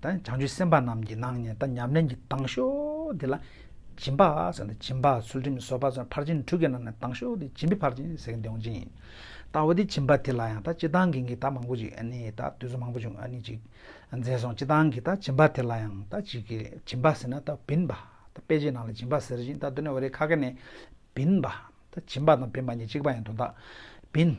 ད་བྱང་ཆུབ་སེམས་དཔའ་རྣམས་ཀྱི་སྣང་བརྙན་ད་ཉམས་ལེན་གྱི་སྟངས་ཤོག་དེ་ལ་སྦྱིན་པ་ཟེར་ནས་སྦྱིན་པ་ཚུལ་ཁྲིམས་གསོལ་བ་ཚོན་ཕར་ཕྱིན་དྲུག་གི་ནང་ནས་སྟངས་ཤོག་དེ་སྦྱིན་པའི་ཕར་ཕྱིན་ཟེར་གྱི་འདི་འོང་ཅི་ཡིན། ད་འོ་དེ་སྦྱིན་པ་དེ་ལ་ཡང་ད་སྤྱི་སྟངས་གིས་གིས་ད་མང་པོ་ཅིག་ཨ་ནི་ད་དུས་ཚོད་མང་པོ་བྱུང་ཨ་ནི་ཅིག་མཛད་སོང་སྤྱི་སྟངས་གིས་ད་སྦྱིན་པ་དེ་ལ་ཡང་ད་ཅིག་གིས་སྦྱིན་པ་ཟེར་ན་ད་བིན་པ་ད་དཔེ་ཆའི་ནང་ལ་སྦྱིན་པ་ཟེར་ཅིང་ད་དུ་ནས་འོ་རེ་ཁ་ཁ་ནས་བིན་པ་ད་སྦྱིན་པ་དང་བིན་པ་གཉིས་གཅིག་པ་ཡིན་དོ་ད་བིན།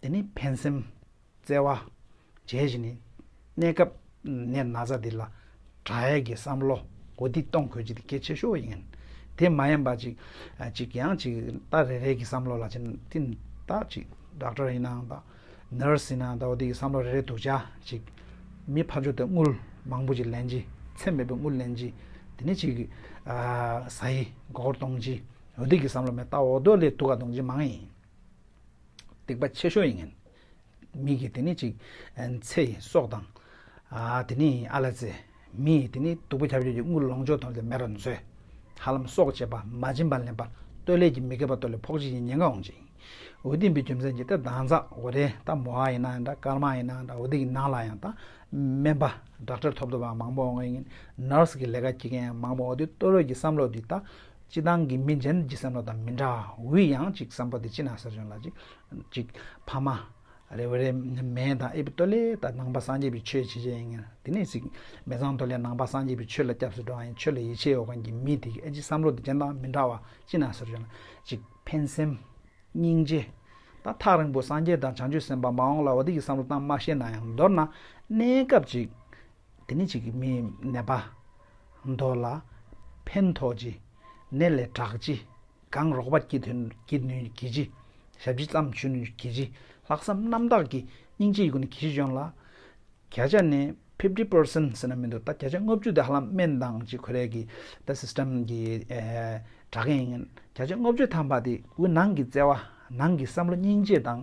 འདི་ནི་ཕན་སེམས་བརྩེ་བ་བྱས་བཞིན་ནི་གནས་སྐབས་ནས་ན་བཟའ་འདི་ལ་དྲག་ཡལ་གྱི་བསམ་བློ་གོ་དི་གཏོང་དགོས་ཀྱི་འདི་གལ་ཆེ་ཤོས་ཡིན། དེ་མ་ཡིན་པ་ཅིག་ཅིག་ཡང་ཅིག་ལྟ་རེ་རེ་གྱི་བསམ་བློ་ལ་ཅིག་ཏིག་ལྟ་ཅིག Doctor ཡིན་ནའང་དང Nurse ཡིན་ནའང་དང་བོ་དེ་གི་བསམ་བློ་རེ་རེ་འདུག་བྱ་ཅིག་མི་ཕ་ཇོ་དེ་དངུལ་མང་པོ་ཅིག་ལེན་གྱི་ཚེ་མེད་པའི་དངུལ་ལེན་གྱི་དེ་ནི་ཅིག་བཟའ་ཡི་མགོ་སྐོར་གཏོང་གྱི་འོ་དེ་གི་བསམ་བློ་མེད་ད་འོ་དོ་ལས་ཐུགས་ཀ་གཏོང་གྱི་མང་ཡིན། སྡིག་པ་ཆེ་ཤོས་ཡིན་ངན། མི་གིས་དེ་ནི་ཅིག། ཚེ་ཡི་སྲོག་དང། དེ་ནི་ཨ་ལ་ཙི། མི་ཡིས་དེ་ནི་སྡུག་པོ་ཁྱབ་བྱེད་ཀྱི་དངུལ་ལོངས་སྤྱོད་དང་བཅས་མེ་རུ་མཛོད། ཧ་ལམ་སྲོག་བཅད་པ་མ་བྱིན་པ་ལེན་པ་སྟོད་ལས་ཀྱི་མི་དགེ་བ་སྟོད་ལས་ཕོག་བྱེད་ཀྱི་ཉེན་ཁ་འོང་བྱེད་ཡིན། འོ་སྡིག་པའི་རྒྱུ་མཚན་གྱིས་ཏེ་དྭངས་གཙང་འོ་རེ་ད་མོ་ཨ་ཡི་ནང་ཡང་འདྲ་སྐར་མ་ཡི་ནང་འདྲ་འོ་སྡིག་གི་ནང་ལ་ཡང་ད་སྨན་པ་འདྲ་སྤྲེལ་ཐོབ་ཐོབ་པ་ཡང་མང་པོ་འོང་ངེས་ཡིན། Nurse གི་ལས་ཀ་བགྱིད་མཁན་ཡང་མང་པོ་འོང་དུས་སྟོད་ལོས་ཀྱི་བསམ་བློ་འདི་ད་སྤྱི་བཏང་གི་མི་འཇན་གྱི་བསམ་བློ་དང་མི་འདྲ་འུ་ཡང་གཅིག་བསམ་པོ་དེ་ཅི་ནང་ས་བྱོན་ལ་གཅིག་ཕ་མ་རེ་བ་རེ་མན་དང་ཨེ་བི་ཏོ་ལེ་དང་ནང་པ་སངས་རྒྱས་པའི་ཆོས་བྱེད་བྱེད་ཡིན་ངེས་དེ་ནས་གཟིགས་མེ་ཟངས་ཐོ་ལེ་ནང་པ་སངས་རྒྱས་པའི་ཆོས་ལ་སྐྱབས་སུ་འགྲོ་བ་ཡིན་ཆོས་ལ་ཡིད་ཆེས་ཡོད་མཁན་གྱི་མི་དེ་གིས་ཨེ་ཅི་བསམ་བློ་དེ་ཅན་དང་མི་འདྲ་བ་ཅི་ནང་ས་བྱོན་ལ་གཅིག་ཕན་སེམས། སྙིང་རྗེ། དང་ཐག་རིང་པོ་སངས་རྒྱས་དང་བྱང་ཆུབ་སེམས་དཔའ་མ་འོངས་ལ་བ་དེ་གི་བསམ་བློ་བཏང་མ་ཤེས་ན་ཡང་མདོར་ན་གནས་སྐབས་ཅིག་དེ་ནས་གཅིག་མི་ནད་པ། མདོ་ལ། ཕན་ཐོགས་ཀྱི། ནད་ལས་དྲག་ཅི། གང་རོགས་པ་སྐྱེད་དོན་སྐྱེད་ནུས་གྱིས་ཀྱི། ཞབས་ཀྱིས་བརྩམས་ཆོས་ནུས་གྱིས་ཀྱི། ལྷག་བསམ་རྣམ་དག་གིས་སྙིང་རྗེ་ཡི་སྒོ་ནས་གྱིས་ཀྱི་སྦྱོང་ལ། བརྒྱ་ཆ་ནས fifty percent ཟེར་ན་མི་འདུག་ད་བརྒྱ་ཆ་ལྔ་བཅུ་དེ་ཧ་ལམ་སྨན་དང་གཅིག་ཁོ་རས་ཀྱི་ད system གྱི་དྲག་གི་ཡིན། བརྒྱ་ཆ་ལྔ་བཅུ་ཐམ་པ་དེ་འུ་ནང་གི་བརྩེ་བ། ནང་གི་བསམ་བློ་སྙིང་རྗེ་དང་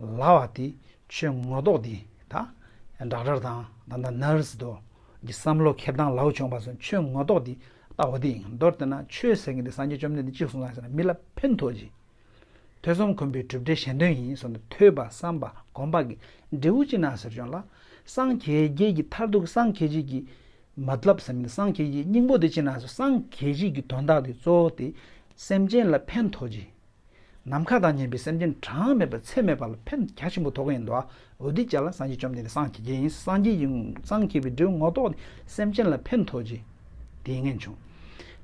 ལ་བ་དེ་ཆོས་ངོ་ལྡོག་འདི་དག་སྦྲག་སྦྲར་དང་ད་ནང་ནར་སི་ཏོ་གི་བསམ་བློ་ཁེབས་སྟངས་ལའུ་བྱོང་པ་སོགས་ཆོས་ངོ་ལྡོག་འདི་ལྟ་བུ་དེ་ཡིན་མདོར་དེད་ན་ཆོས་ཟེར་མཁན་དེ་སངས་རྒྱས་བཅོམ་ལྡན་འདས་གཅིག་བཟུང་ལ་ཟེར་ན་མི་ལ་ཕན་ཐོགས་ཅི། ཐོས་བསམ་ཁོམ་པའི་གྲུབ་འབྲས་གཞན་དོན་ཡིན་སོགས་འདི་ཐོས་པ་བསམ་པ་སྒོམ་པ་གི་འབྲས་བུ་ཅིག་ནང་ཟེར་བྱུང་ལ། སངས་རྒྱས་བརྒྱད་ཀྱི་མཐར་ཐུག་སངས་རྒྱས་བརྒྱད་ཀྱི་མཏླབ་ཟེར་མི་སངས་རྒྱས་བརྒྱད་སྙིང་པོ་དེ་ཅིག་ནང་ཟེར་སངས་རྒྱས་བརྒྱད་ཀྱི་དོན་དག་དེ་གཙོ་བོ་དེ་སེམས་ཅན་ལ་ཕན་ཐོགས་ཅི། ནམ་མཁའ་དང་ཉེ་བའི་སེམས་ཅན་གྲངས་མེད་པ་ཚད་མེད་པ་ལ་ཕན་བརྒྱ་ཆེན་པོ་ཐོགས་ཡིན་འདུག་འོ་དེ་ཅག་ལ་སངས་རྒྱས་བཅོམ་ལྡན་འདས་སངས་རྒྱས་ཡིན་སངས་རྒྱས་ཡིན་སངས་རྒྱས་པའི་སྒྲའི་ངོ་ཐོག་ནས་སེམས་ཅན་ལ་ཕན་ཐོགས་ཀྱི་དེའི་ངན་བྱུང།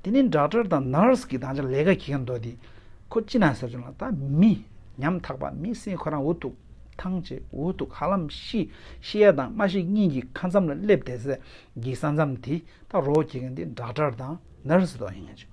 དེ་ནས་དྲག་གྲོལ་དང nurse གི་དམ་བཅའ་ལས་ཀ་གྱིས་ཀ་འདོད་དེ། ཁོ་ཅི་ན་ཟེར་བྱུང་ལ་ད་མི། ཉམ་ཐག་པ་མི་སྲིད་ཁོ་རང་འུ་ཐུག་ཐང་ཆད་འུ་ཐུག་ཧ་ལམ་ཤི། ཤི་ཡ་དང་མ་ཤི་གཉིས་ཀྱི་ཁ་མཚམས་ལ་སླེབས་དེ་ཟས་ཀྱི་ས་མཚམས་དེ་ད་རོགས་གྱིས་ཀ་འདི་དྲག་གྲོལ་དང nurse དོགས་ཡིན་ངན་བྱུང།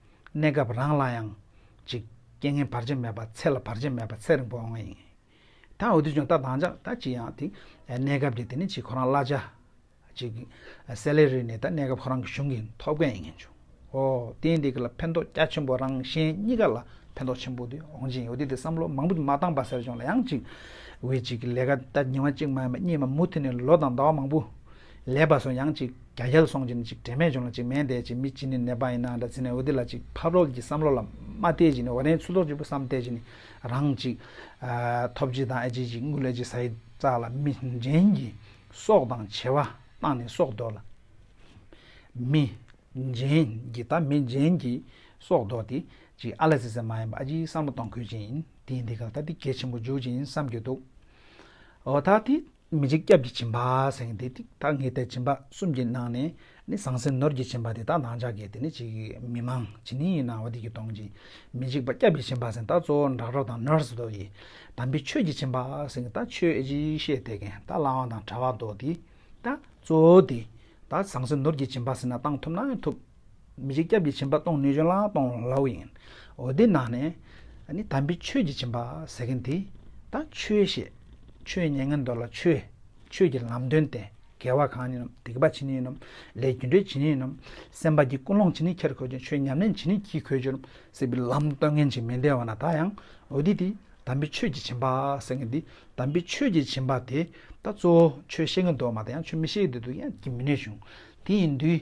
གནས་སྐབས་རང་ལ་ཡང། ཅིག། རྐྱེན་ངན་བར་ཆད་མེད་པ་ཚེ་ལ་བར་ཆད་མེད་པ་ཚེ་རིང་པོ་འོང་བ་ཡིན། ད་འོ་དོད་ཅུང་ལྟ་སྡང་ཅག་ད་ཅི་ཡང་ཐིག། གནས་སྐབས་ཀྱི་དེ་ནི་ཅིག་ཁོ་རང་གླ་ཆ། ཅིག། སེ་ལེ་རི་ནི་ད་གནས་སྐབས་ཁོ་རང་གི་གཞུང་གི་ཐོབ་སྐལ་ཡིན་ངེས་བྱུང། ཨོ། དེས་འདི་གི་ལ་ཕན་ཐོགས་རྒྱ་ཆེན་པོ་རང་གཞན་གཉིས་ཀ་ལ་ཕན་ཐོགས་ཆེན་པོ་དེ་འོང་ཅི་ཡིན་འོ་དོད་དེ་བསམ་བློ་མང་པོ་ཅིག་མ་བཏང་བ་ཟེར་བྱུང་ལ་ཡང་ཅིག། འི་ཅིག་ལས་ཀ་ད་ཉི་མ་གཅིག་མ་ཡིན་པ་གཉིས་མ་མུ་མཐུད་ནས་ལོ་དང་ཟླ་བ་མང་པོ། ལས་པ་སོང་ཡང་ཅིག་རྒྱ་རྒྱལ་སོང་ཅིག་ནི་ཅིག་དྲན་མེད་བྱུང་ལ་ཅིག་མེད་འདས་ཅིག་མི་ཅི་ནི་ནད་པ་ཡིན་ནའང་འདྲ་ཚིག་ནས་འོ་དེ་ལ་ཅིག་ཕབ་རོགས་ཀྱིས་བསམ་བློ་ལ་མ་གཏད་ཅིག་ནི་འོ་རན་ཚུལ་རྡོག་གཅིག་པུ་བསམ་གཏད་ཅིག་ནི་རང་ཅིག། ཐོབ་ཅིག་དང་ཨེ་ཅིག་ཅིག་དངུལ་ཨེ་ཅིག་ཟ་ཡི་ཙག་ལ་མི་འདྲེན་གྱི། སྲོག་དང་བྱེ་བ་བཏང་ནི་སྲོག་འདོར་ལ། མི། འདྲེན་གྱི་ད་མི་འདྲེན་གྱི། སྲོག་འདོར་ཏེ་ཅིག་ཨ་ལ་ཟེ་ཟེ་མ་ཡིན་པ་ཨ་ཅིག་བསམ་བློ་གཏོང་ཁུལ་ཅིག་ཡིན་དེ་ཡིན་དེ་ག་ད་དེ་གལ་ཆེན་པོ་འཇུག་ཅིག་ཡིན་བསམ་གྱི་འདུག། འོ་ད་དེ། མི་འཇིགས་སྐྱབས་ཀྱི་བྱིན་པ་སེང་གེ་དེ་དག་ངེས་ཏེ་བྱིན་པ་གསུམ་གྱི་ནང་ནས་ནི་ཟང་ཟིང་ནོར་གྱི་བྱིན་པ་དེ་དག་ནང་འཇག་གི་དེ་ནི་ཅིག་མི་མང་ཇི་ནི་ཡིན་ནའང་བདུད་ཀྱིས་སྟོང་ཅིང་མི་འཇིགས་པ་སྐྱབས་ཀྱི་བྱིན་པ་སེང་དག་གཙོ་བོ་འབྲག་རོ་དང་ནོར་སོ་ཡི་དམ་པའི་ཆོས་ཀྱི་བྱིན་པ་སེང་གེ་དག་ཆོས་ཀྱི་ཤེས་དེ་གན་དག་བླང་བ་དང་བྲལ་བ་མདོ་དེ་དག་གཙོ་བོ་དེ་དག་ཟང་ཟིང་ནོར་གྱི་བྱིན་པ་སེང་ན་བཏང་ཐུབ་ན་ཐུབ། མི་རྗེ་སྐྱབས་ཀྱི་བྱིན་པ་གཏོང་ནུས་ཀྱང་ལའང་གཏོང་སླ་བོ་ཡིན། འོ་དེ་ན་ནི། ནི་དམ་པའི་ཆོས་ཀྱི་བྱིན་པ་ཟེར་མཁན་དེ་ད་ཆོས་ཤེས། ཆོས་ཉན་མཁན་དོར་ལ་ཆོས། ཆོས་ཀྱི་ལམ་སྟོན་ཏེ་དགེ་བ་གང་ཡིན་ནམ་སྡིག་པ་ཇི་ནི་ཡིན་ནམ་ལས་རྒྱུ་འབྲས་ཇི་ནི་ཡིན་ནམ་སེམས་པ་ཀྱི་ཀུན་སློང་ཇི་ནི་ཁྱེར་དགོས་ཀྱང་ཆོས་ཉམས་ལེན་ཇི་ནི་བགྱིད་དགོས་ཀྱང་སྲིད་པའི་ལམ་སྟོན་མཁན་ཞིག་མི་འདེང་བ་ན་ད་ཡང་འོ་དེ་དེ་དམ་པའི་ཆོས་ཀྱི་བྱིན་པ་ཟེར་མཁན་དེ་དམ་པའི་ཆོས་ཀྱི་བྱིན་པ་དེ་ད་གཙོ་བོ་ཆོས་ཤེས་མཁན་དོར་མ་ད་ཡང་ཆོས་མི་ཤེས་ཀྱི་དུས་དུ་ཡང་བགྱིད་མི་ནུས་བྱུང་དེ་ཡིན་དུས།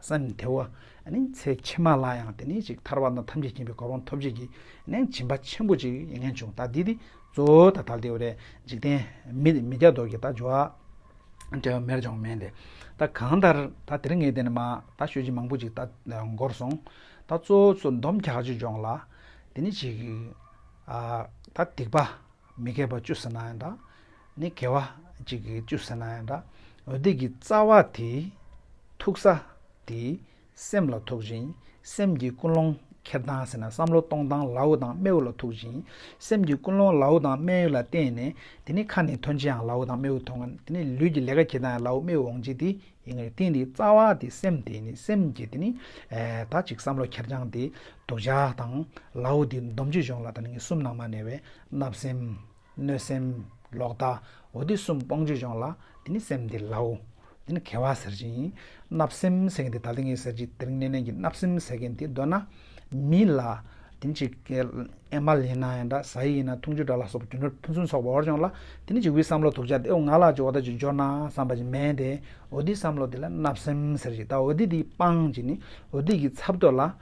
སེམས་ནི་དེ་འོ། ཚེ་ཕྱི་མ་ལ་ཡང་དེ་ནི་ཅིག་ཐར་བ་ན་ཐམས་ཅད་མཁྱེན་པའི་གོ་འཕང་ཐོབ་བྱེད་ཀྱི་བྱིན་པ་ཆེན་པོ་ཅིག་ཡིན་ངེས་བྱུང་ད་འདི་དེ་གཙོ་བོ་ད་ཐལ་ཏེའོ་རེད་འཇིག་རྟེན་མི་དེ་མི་བརྒྱ་སྟོང་གི་ད་འབྱོར་བ་བྲལ་བ་མེར་སྦྱོང་མེད་དེ་ད་གང་ལྟར་ད་དེར་ངེས་དེ་ནི་མ་ད་ཤོད་ཅིག་མང་པོ་ཅིག་ད་འགོར་སོང་ད་གཙོ་བོ་ཚུར་འདོམས་གྱག་ཅིག་སྦྱོང་ལ་དེ་ནི་ཅིག་ད་སྡིག་པ་མི་དགེ་བ་བཅུ་ཟེར་ན་ཡང་ད། ནི་དགེ་བ་གཅིག་གིས་བཅུ་ཟེར་ན་ཡང་འདྲ། འོད་དེ་གི་རྩ་བ་དེས་ཐུག་ས་དེ་སེམས་ལ་ཐུག་ཅིང་སེམས་ཀྱི་ཀུན་སློང་ཁྱེར་སྟངས་ཟེར་ན་བསམ་བློ་གཏོང་སྟངས་ལའུ་དང་རྨེའུ་ལ་ཐུག་ཅིང་སེམས་ཀྱི་ཀུན་སློང་ལའུ་དང་རྨེའུ་ལ་བརྟེན་ནས་དེ་ནི་ཁ་ནས་ཐོན་ཅིའང་ལའུ་དང་རྨེའུ་མཐོང་ངེས་དེ་ནི་ལུས་ཀྱི་ལས་ཀ་བྱེད་སྟངས་ལའུ་རྨེའུ་འོང་ཅི་དེ་ཡིན་ངེས་དེ་འདི་རྩ་བ་དེ་སེམས་དེ་ནི་སེམས་ཀྱི་དེ་ནི་ད་གཅིག་བསམ་བློ་ཁེར་རྐྱང་དེ་དུག་བྱ་དང་ལའུ་དེ་འདོམ་གཅིག་སྦྱོང་ལ་ད་ནི་ངེས་གསུམ་ནང་མ་གནས་པའི་བརྣབ་སེམས། གནོད་སེམས། ལོག་ལྟ། འོ་དོད་གསུམ་སྤོང་ཆོས་སྦྱོང་ལ། དེ་ནི་སེམས་འདི་ལའོ། འདི་ནི་དགེ་བ་ཟེར་གྱིན། བརྣབ་སེམས་ཟེར་གྱིན་དེ་ད་ལྟ་ངས་ཟེར་གྱིན་དེ་རིང་ནས་ནས་ཀྱི་བརྣབ་སེམས་ཟེར་གྱིན་དེ་འདོད་ན། མི་ལ། དེ་ནི་ཅིག། ཨེ་མ་ལི་ན་ཡང་འདྲ་བཟའ་ཡི་ཡིན་ན་འཐུང་ཆུ་འདྲ་ལ་སོགས་པ་རྒྱུ་ནོར་ཕུན་སུམ་ཚོགས་པ་འོར་སྦྱོང་ལ། དེ་ནི་ཅིག་དབུས་བསམ་བློ་དུག་བྱ་དེ་འོ་ང་ལ་ཅིག་འོ་ད་ཅིག་འབྱོར་ན་བསམ་པ་ཅིག་མེད་དེ། འོ་དོད་བསམ་བློ་དེ་ལ་བརྣབ་སེམས་ཟེར་གྱིན་ད་འོ་དོད་འདི་སྤང་གྱིན་ནི་འོ་དོད་ཀྱི་ཚབ་ཏུ་ལ།